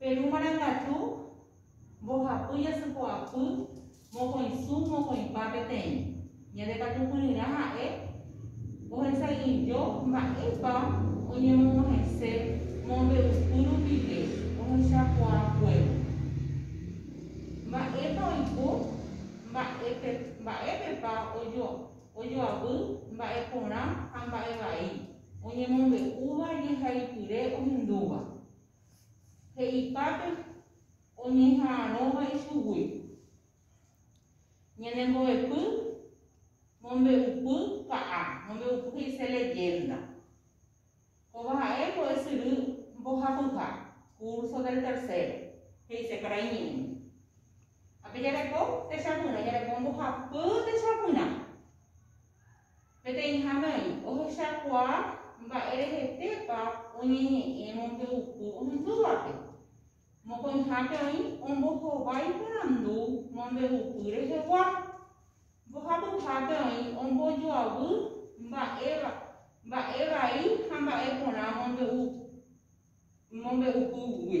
Peru marangatu, mbohapy, jasypo'apy, mokõisu, mokõipa peteĩ. Ñande katu kuryrã ha'e ohesa'ỹijo mba'épa oñemog̃uahẽse mombe'upy rupive ohechakuaakuévo. Mba'épa oiko, mba'épepa ojoavy mba'e porã ha mba'e vai oñemombe'úva jehaipyre ohendúva. he'ipápe oñeha'arõva ichugui. Ñane mbo'epy mombe'upy ka'a, mombe'upy he'ise leyenda. Kóva ha'e mbo'esyry mbohapyha, curso del tercero, he'ise karai ñe'ẽ. Ha pe jareko techapyrã, jareko mbohapy techapyrã. Peteĩ hanái ohechakuaa mba'erehetépa oñeñe'ẽ mombe'upy ohendúvape. Mokõihápe oĩ ombohova iporandu mombe'upy rehegua. Mbohapyhápe oĩ ombojoavy mba'e mba'e vai ha mba'e porã mombe'upýgui.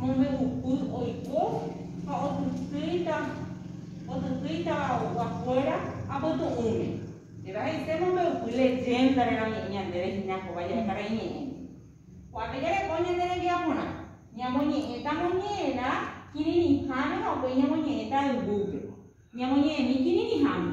mombe'upy oiko ha otytýita otytýitava oguakuéra apytu'ũme. Péva he'ise mombe'upy leyénda reramo'ỹ ñandéve hína kóva jahekara'i ñe'ẽ. Ko'ápe jareko ñande rembiaporã, ñamoñe'ẽta moñe'ẽrã kirirĩháme ha upéi ñamoñe'ẽta yvúpe, ñamoñe'ẽmi kirirĩháme.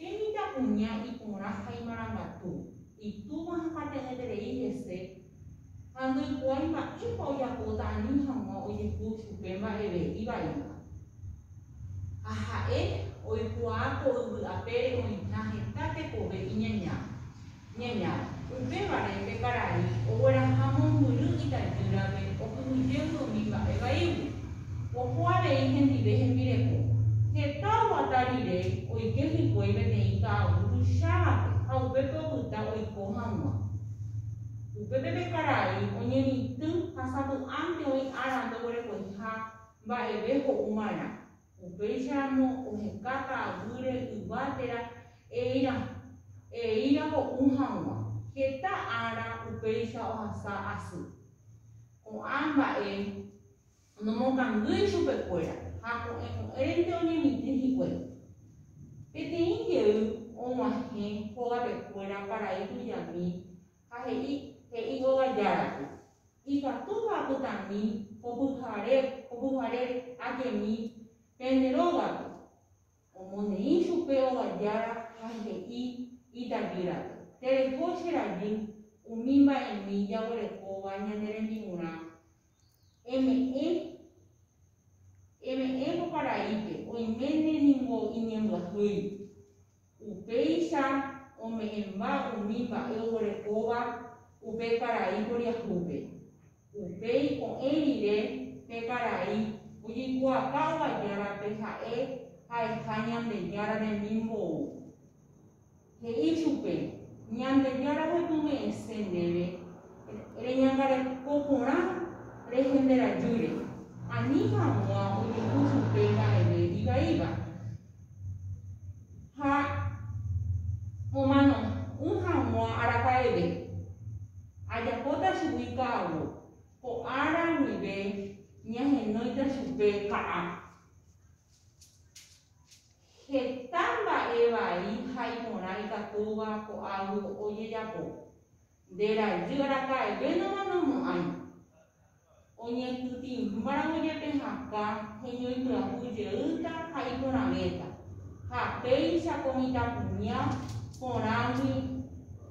Temita kuña iporã ha imarangatu, itúva ha pateñeterei hese, ha ndoikuaái mba'épa ojapóta ani hag̃ua ojehu chupe mba'eve ivaíva. Ha ha'e oikuaa ko yvy apére oĩha heta tekove iñañáva. Ñaña. Upévare pe karai ogueraha mombyry itajýrape okyhyje yvomi mba'e vaígui. Oho avei hendive hembireko. Heta oguata rire oike hikuái peteĩ ka'aguy tuichávape ha upépe opyta oiko hag̃ua. Upépe pe karai oñemitỹ ha sapy'ánte oĩ ára ndoguerekoiha mba'eve ho'u marã. Upéicharamo ohekata aguyre yva térã eíra, eíra ho'u haguã. Heta ára upéicha ohasa asy. Ko'ã mba'e nomokangýi chupekuéra ha ko'ẽ ko'ẽrente oñemitỹ hikuái. Peteĩ jey oguahẽ hógapekuéra paraíso jami, Ha he'i, he'i Hógar Járape, Ikatúpa apytami ko pyhare, ko pyhare ajemi pende rógape. Omoneĩ chupe Hógar Jára ha he'i itajýrape, Tereho che rajy umi mba'emi jaguerekóva ñane rembi'urã, Eme'ẽ, eme'ẽ ko paraípe, oiméne ningo iñembyahýi. Upéicha ome'ẽmba umi mba'e oguerekóva upe karai poriahúpe. Upéi ko'ẽ rire pe karai ojeikuaapa ovajárape ha'e ha'eha Ñandejára remimbou. He'i chupe, Ñandejára repyme'ẽse ndéve reñangareko porã rehenderajýre, ani hag̃ua ojehu chupe mba'eve ivaíva. Ha omano'ỹ hag̃ua araka'eve, ajapóta chugui ka'avo, ko ára guive ñahenóita chupe ka'a. Heta mba'e vai ha iporã ikatúva ko'águi ojejapo. Nde rajy araka'evénama nomo'ãi. Oñehytĩmbávo jepe hakã heñoipyahu jeýta ha iporãvéta, ha péicha ko mitãkuña porãgui.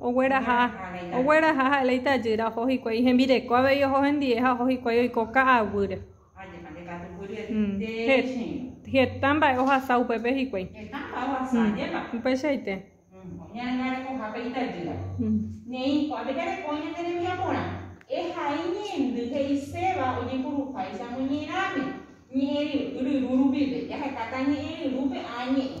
Ogueraha. Ogueraha ha'éle itajýra, oho hikuái hembireko avei oho hendie ha oho hikuái oiko ka'aguýre. Heta mba'e ohasa upépe hikuái. Heta mba'e ohasa, ajépa. Upeichaite. Oñangarekohápe itajýra. Neĩ, ko'ápe jareko ñande rembiaporã. Ehai ñe'ẽndy he'iséva ojepuruháicha moñe'ẽrãme, ñe'ẽryru rupive. Jahekáta ñe'ẽryrúpe áa ñe'ẽ.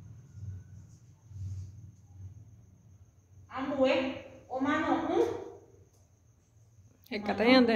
Ambue omano'ỹ. Hekata ñande.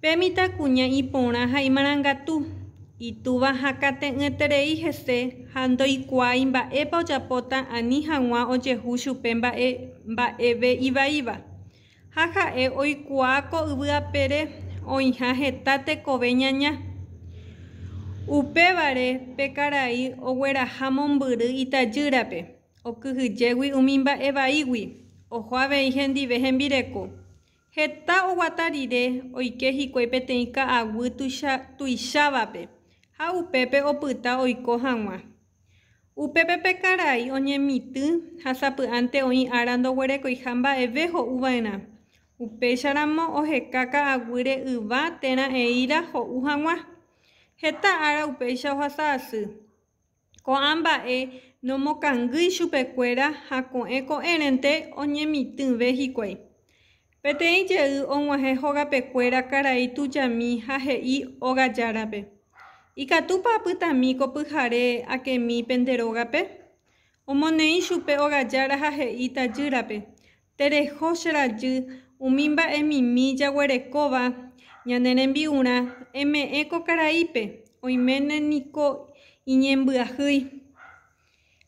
Pe mitãkuña iporã ha imarangatu, itúva hakãte'ỹeterei hese ha ndoikuaái mba'épa ojapóta ani hag̃ua ojehu chupe mba'e mba'eve ivaíva. Ha ha'e oikuaa ko yvy apére oĩha heta tekove ñaña. Upévare pe karai ogueraha mombyry itajýrape, okyhyjégui umi mba'e vaígui, oho avei hendive hembireko. Heta oguata rire oike hikuái peteĩ ka'aguy tuicha tuichávape ha upépe opyta oiko hag̃ua. Upépe pe karai oñemitỹ ha sapy'ánte oĩ ára ndoguerekoiha mba'eve ho'uva'erã. Upéicharamo oheka ka'aguýre yva térã eíra ho'u hag̃ua. Heta ára upéicha ohasa asy. Ko'ã mba'e nomokangýi chupekuéra ha ko'ẽ ko'ẽrente oñemitỹve hikuái. Peteĩ jey og̃uahẽ hogapekuéra karai tujami ha he'i óga járape, Ikatúpa apytami ko pyhare akemi pende rógape? Omoneĩ chupe óga jára ha he'i tajýrape, Tereho che rajy umi mba'emimi jaguerekóva ñane rembi'urã, eme'ẽ ko karaípe, oiméne niko iñembyahýi.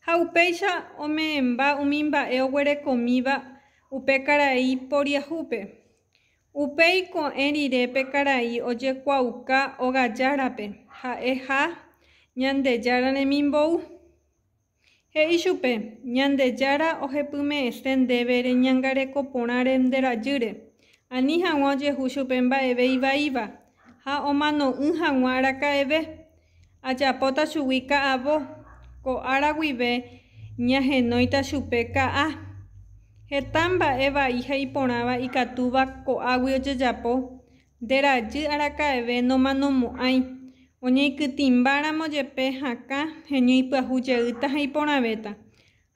Ha upéicha ome'ẽmba umi mba'e oguerekomíva upe karai poriahúpe. Upéi ko'ẽ rire pe karai ojekuaauka ogajárape, ha'e ha Ñandejára remimbou. He'i chupe, Ñandejára ohepyme'ẽse ndéve reñangareko porãre nde rajýre, ani hag̃ua ojehu chupe mba'eve ivaíva, ha omano'ỹ hag̃ua araka'eve. Ajapóta chugui ka'avo, ko ára guive ñahenóita chupe ka'a. Heta mba'e vai ha iporãva ikatúva ko'águi ojejapo, Nde rajy araka'eve nomanomo'ãi, oñeikytĩmbáramo jepe hakã heñoipyahu jeýta ha iporãvéta.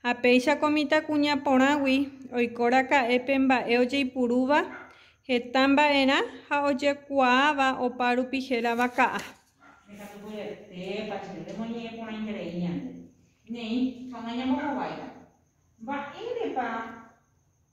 Ha péicha ko mitãkuña porãgui oiko raka'e pe mba'e ojeipurúva heta mba'erã ha ojekuaáva opa rupi hérava ka'a. Ndekatu vyetépa che remoñe'ẽporãiterei ñande, néi, ha nañambohováita. Mba'érepa?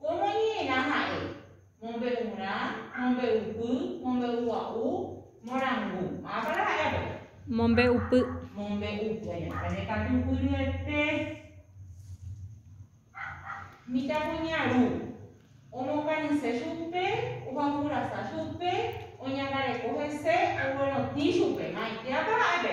Ko moñe'ẽrã ha'e, mombe'urã, mombe'upy, mombe'ugua'u, morangu. Mávapara ha'e avei? Mombe'upy. Mombe'upy. Añe'ẽháme katu pyryete. Mitãkuñaru. Omokañyse chupe, ohaupyrasa chupe, oñangareko hese, oguerotĩ chupe. Maitéapa ha'e pe?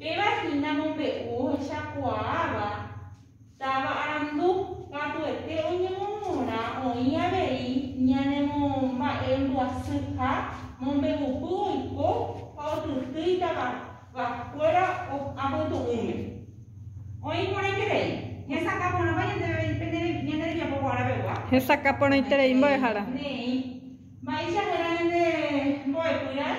Péva hína mombe'u ohechakuaáva táva arandu, katuete oñemomorã oĩ avei ñanemomba'embyasýha mombe'upy oiko ha otyty itavavakuéra apytu'ũme. Oĩ porãiterei, hesakã porãpa ñande rembiapo guarãpegua. Hesakã porãiterei mbo'ehára. Ne'ẽ. Mba'eichakuéra ñande mbo'epy raẽ.